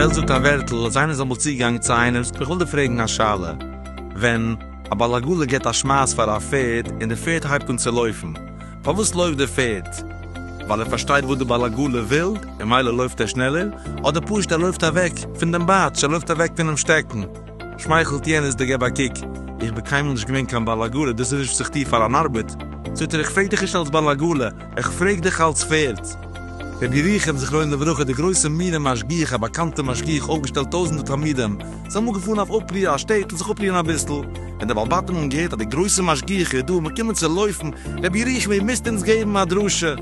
וועלט זאגט א ווערטל, אז איינער איז אמאל צוגעגאנגען צו איינעם, איך וויל דיר פרעגן א שאלה, ווען א בעל עגלה געבט א שמייס פאר א פערד, און די פערד הייבט אן צו לויפן, פארוואס לויפט דער פערד? ווייל ער פארשטייט וואס די בעל עגלה וויל און מילא לויפט ער שנעלער? אדער פשוט ער לויפט אוועק פון דעם בייטש, ער לויפט אוועק פונעם שטעקן? שמייכלט יענעס די געב א קוק. איך בין קיינמאל נישט געווען קיין בעל עגלה, דאס איז נישט וואס איך טו פאר אן ארבעט. זאגט ער, איך פרעג דיך נישט אלס בעל עגלה, איך פרעג דיך אלס פערד. רבי ירוחם זכרונו לברכה, דער גרויסער מיר און משגיח, א באקאנטער משגיח, אויפגעשטעלט טויזנטער תלמידים, זיי האבן געפארן אויף אפריע א שטעטל זיך אפרוען אביסל, ווען די בעל בתים האבן געהערט אז די גרויסע משגיח איז דא, מ'קומען צו לויפן, רבי ירח מאיר איר מוזט אונז געבן א דרשה!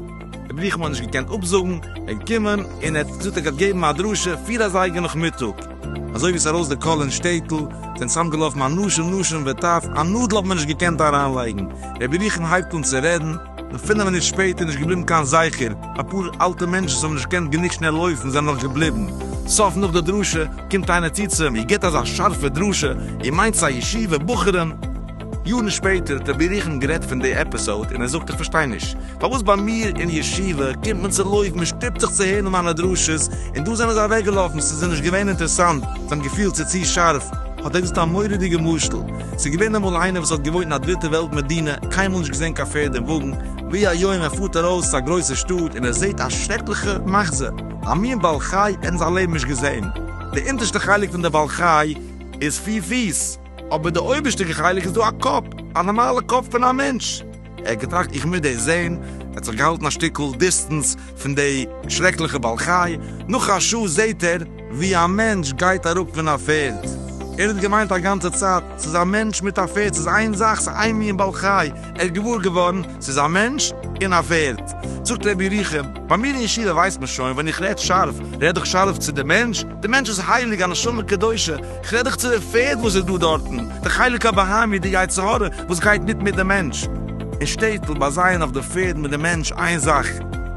רבי ירח מאיר האט נישט געקענט אפזאגן, ער איז געקומען, און ער האט געזאגט ער גייט געבן א דרשה פיר אזייגער נאכמיטאג. אזוי ווי עס איז ארויס די קול אין שטעטל, זענען צוזאם געלאפן אנשים נשים וטף, א נאדל האט מען נישט געקענט אריינלייגן, רבי ירח'ן הייבט אן צו רעדן, און פֿינף מינוט שפּעטער, נישט געבליבן קיין זכר. אַ פּאָר אַלטע מענטשן, וואָס האָבן נישט געקענט גענוג שנעל לויפֿן, זענען נאָך געבליבן. סוף, נאָך דער דרשה, קומט איינער צו צו אים, איר גיט אַזאַ שאַרפֿע דרשה, איר מיינט ס'אַ ישיבֿה בחורין? יאָרן שפּעטער האָט ער בירוכן גערעדט פֿון די עפּיסאָד, און ער זאָגט, איך פֿאַרשטיי נישט, פֿאַר וואָס בײַ מיר אין ישיבֿה קומט מען צו לויפֿן, מע שטופּט זיך צו הערן מײַנע דרשות, און דאָ זענען זיי אַוועקגעלאָפֿן, ס'איז זיי נישט געווען אינטערעסאַנט, זיי האָבן געפֿילט, ס'איז צו שאַרף. האָט ער געזאָגט אַ מוראדיקער משל. ס'איז געווען אמאל איינער וואס האט געוואוינט אין א דריטע וועלט מדינה, קיינמאל נישט געזען קיין פערד און וואגן, ווי היום ער פארט ארויס צו א גרויסע שטאט און ער זעהט א שרעקליכע מחזה, א מין בעל חי ער האט אין זיין לעבן נישט געזען, די אונטערשטע חלק פון די בעל חי איז פיר פיס, אבער די אויבערשטע חלק איז דא א קאפ, א נארמאלע קאפ פון א מענטש. ער האט געטראכט איך מוז דאס זעהן, ער האט זיך געהאלטן א שטיקל דיסטענס פון די שרעקליכע בעל חי, נאך א שעה זעהט ער ווי א מענטש גייט אראפ פון א פערד, ער האט געמיינט א גאנצע צייט ס'איז א מענטש מיט א פערד, ס'איז איין זאך, ס'איז איין מין בעל חי, ער איז געוואר געווארן ס'איז א מענטש און א פערד. זאגט ר' ירוחם, ביי מיר אין ישיבה ווייסט מען שוין ווען איך רעד שארף, רעד איך שארף צו די מענטש, די מענטש איז הייליג, א נשמה קדושה, כ'רעד דיך צו די פערד וואס איז דא דארטן, די חלק הבהמי, די יצר הרע וואס גייט מיט מיט די מענטש. אין שטעטל בה זייען אויף די פערד מיט די מענטש איין זאך,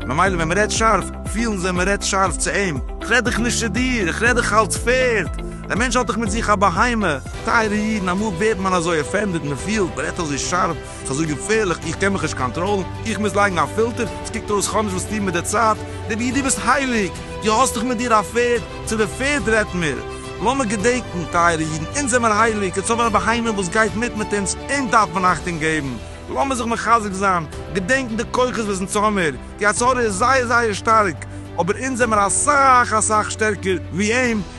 ממילא ווען מ'רעדט שארף, פילן זיי מ'רעדט שארף צו אים. כ'רעד דיך נישט צו דיר, כ'רעד דיך אלס פערד. דער מענטש האט דאך מיט זיך א בהמה. טייערע אידן, אמאל ווערט מען אזוי אפענדעד, מ'פילט, מ'רעדט אזוי שארף. ס'אזוי געפערליך, איך קען מיך נישט קאנטראלן, איך מוז לייגן א פילטער, ס'קוקט אויס כ'האב נישט וואס טון מיט די צייט, רבי דו ביסט הייליג, דו האסט דאך מיט דיר א פערד, צו די פערד רעדט מיר, לאמיר געדענקן טייערע אידן, אונז זעמיר הייליג, אונז האבן א בהמה וואס גייט מיט מיט אונז, אונז דארף מען אכטונג געבן, לאמיר זיך מחזק זיין, געדענקן די כוחות וואס אונז האמיר, די הצהרה איז זייער זייער שטארק, אבער אונז זעמיר אסאך אסאך שטערקער ווי אים,